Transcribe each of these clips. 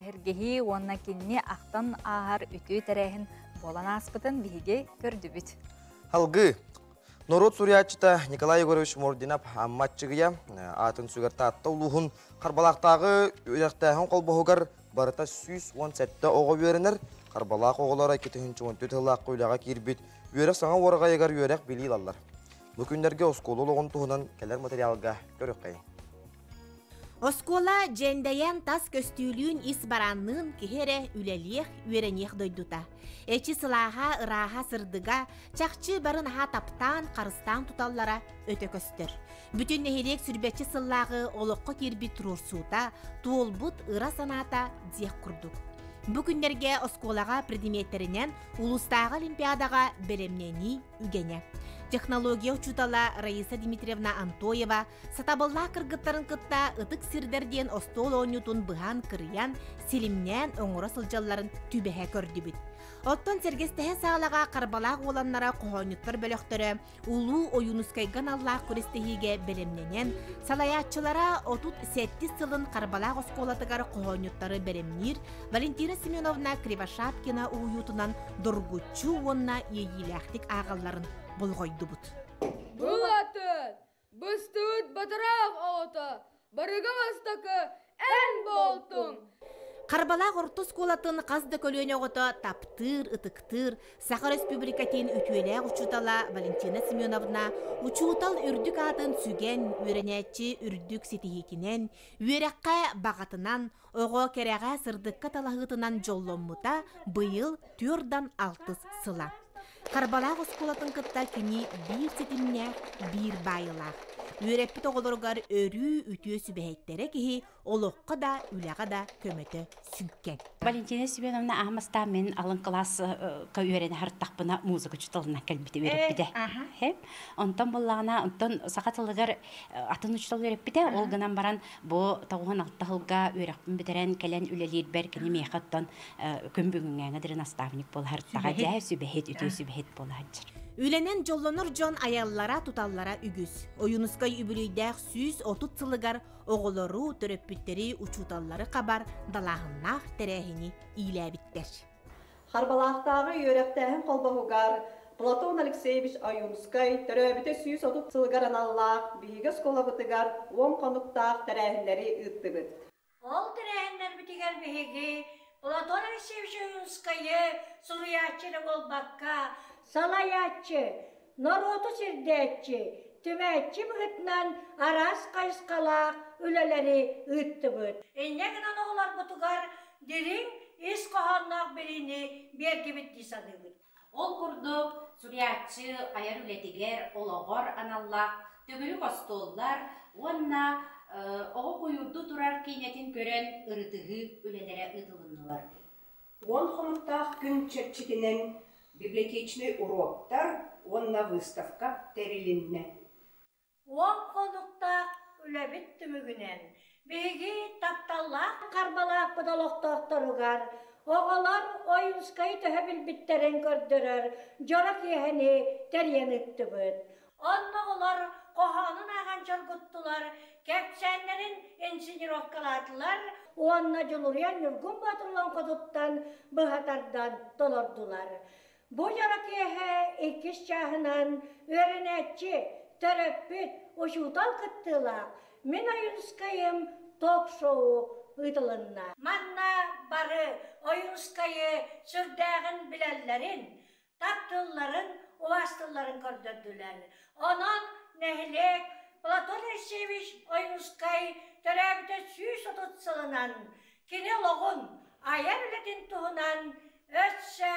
Эһэргэһии уонна кинини ахтан ааһар үтүө тэрээһин буолан ааспытын биһиги көрдүбүт. Халгыы норуот суруйааччыта Николай Егорович Мординов Амматчыгыйа аатын сүгэр Таатта улууһун Харбалаахтааҕы үөрэхтээһин холбоһугар барыта сүүс уон сэттэ оҕо үөрэнэр. Харбалаах оҕолоро икки тыһыынча он төрт сыллаахха үлэҕэ киирбит үөрэх саҥа уораҕайыгар үөрэх билии ылаллар. Бу күннэргэ оскуола олоҕун туһунан кэлэр материалга көрүөххэ. Оскуола дьэндэйэн тас көстүүлүүн ис баранныын киһи эрэ үлэлиэх, үөрэниэх дойдута. Эчи сылааха, ырааһа, сырдыга, чахчы барын аһа таптаан, харыстаан туталлара өтө көстөр. Бүтүн нэһилиэк сүрбэччи сыллааҕы олоххо киирбит туруорсуута, туолбут ыра санаата диэх курдук. Бу күннэргэ оскуолаҕа предметтэринэн улуустааҕы олимпиадаҕа бэлэмнэнии үгэнэ. Технология учуутала Раиса Дмитриевна Антоева Сатабыллаах кыргыттарын кытта ытык сирдэр диэн остуол оонньуутун быһан кырыйан, силимнээн оҥоро сылдьалларын түбэһэ көрдүбүт. Оттон сэргэстэһэ саалаҕа харбалаах уоланнара хоһоонньуттар бөлөхтөрө Улуу Ойуунускайга аналлаах күрэстэһиигэ бэлэмнэнэн, салайааччылара отут сэттис сылын Харбалаах оскуолатыгар хоһоонньуттары бэлэмниир Валентина Семеновна Кривошапкина уһуйуутунан доргуччу уонна иэйиилээхтик ааҕалларын болҕойдубут. Был атын! Быстыт батыраах оҕото, барыга бастакы эн буолтуҥ. Харбалаах орто оскуолатын хас да көлүөнэ оҕото таптыыр, ытыктыыр, Саха Республикатын үтүөлээх учуутала Валентина Семеновна учуутал үрдүк аатын сүгэн, үөрэнээччи үрдүк ситиһиитинэн, үөрэххэ баҕатынан, Оҕо кэрэҕэ сырдыкка талаһыытынан дьолломмута быйыл түөрдан алтыс сыла. Харбалаах оскуолатын кытта кини биир ситимнээх, биир баайылаах. Үөрэппит оҕолоругар өрүү үтүө сүбэһиттэрэ киһи олоххо да, үлэҕэ да көмөтө сүҥкэн. Валентина Семеновна аһымастаан мин алын кылааска үөрэнэ сырыттахпына музыка учууталынан кэлбитим үөрэппитэ. Онтон буллаҕына, онтон саха тылыгар атын учуутал үөрэппитэ. Ол гынан баран Бу тоҕуһун таһылга үөрэхпин бүтэрэн кэлэн үлэлиирбэр кини миэхэ оттон күн бүгүҥҥээҥи дирин наставник буолаһыртаҕа дьэ сүбэһит үтүө сүбэһит буолаһаччыр Үлэнэн дьоллонор дьон айаллара туталлара үгүс. Ойунускай үбүлүйдээх сүүс отут сылыгар оҕолору, төрөппүттэри, учууталлары хабар далааһыннаах тэрээһини иилээбиттэр. Харбалаахтааҕы үөрэхтээһин холбоһугар Платон Алексеевич Ойуунскай төрөөбүтэ сүүс отут сылыгар аналлаах биһиги оскуолабытыгар уон хонуктаах тэрээһиннэри ыыттыбыт. Ол тэрээһиннэрбитигэр биһиги Платон Алексеевич Ойуунскайы суруйааччы эрэ буолбакка, салайааччы, норуоту сирдээччи, түмээччи быһыытынан араас хайысхалаах үлэлэри ыыттыбыт. Инньэ гынан оҕолорбутугар дириҥ ис хоһоонноох билиини биэргибит дии саныыбыт. Ол курдук, суруйааччы айар үлэтигэр олоҕор аналлаах төгүрүк остуоллар уонна оҕо куйуурду турар киинэтин көрөн ырытыһыы үлэлэрэ ыытылыннылар. Уон хонуктаах күн чэрчитинэн библиотечнай уруоктар уонна выставка тэрилиннэ. Уон хонуктаах үлэбит түмүгүнэн биһиги тапталлаах харбалааппыт олохтоохторугар, оҕолор Ойуунскайы төһө билбиттэрин көрдөрөр дьоро киэһэни тэрийэн ыыттыбыт. Онно оҕолор хоһоонун ааҕан чоргуттулар, кэпсээннэрин инсценировкалаатылар уонна Дьулуруйан Ньургун Боотурлуоҥкотуттан быһа тардан толордулар. Бу дьоро киэһэ иккис чааһынан үөрэнээччи, төрөппүт, учуутал кыттыылаах Мин Ойуунускайым ток-шоу ыытылынна. Манна бары Ойуунускайы сүрдээҕин билэллэрин, таптыылларын, уостулларын көрдөрдүлэр. Онон нэһилиэк Платон Алексеевич Ойуунускай төрөөбүтэ сүүс отут сылынан, кини олоҕун, айар үлэтин туһунан өссө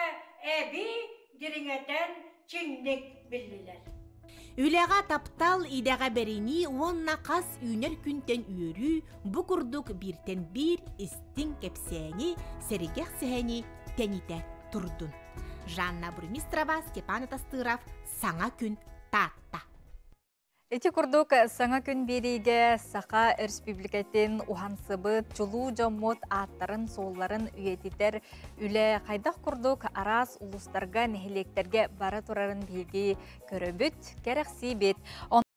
эбии дириҥэтэн чиҥник биллилэр. Үлэҕэ таптал, идэҕэ бэринии уонна хас үүнэр күнтэн үөрүү бу курдук бииртэн биир истиҥ кэпсээни, сэргэх сэһэни тэнитэ турдун. Жанна Бурмистрова, Степан Атастыров саҥа күн Таатта Ити курдук, саҥа күн биэриигэ Саха Өрөспүүбүлүкэтин уһансыбыт чулуу дьоммут ааттарын-суолларын үйэтитэр үлэ хайдах курдук араас улуустарга, нэһилиэктэргэ бара турарын биһиги көрөбүт, кэрэхсиибит.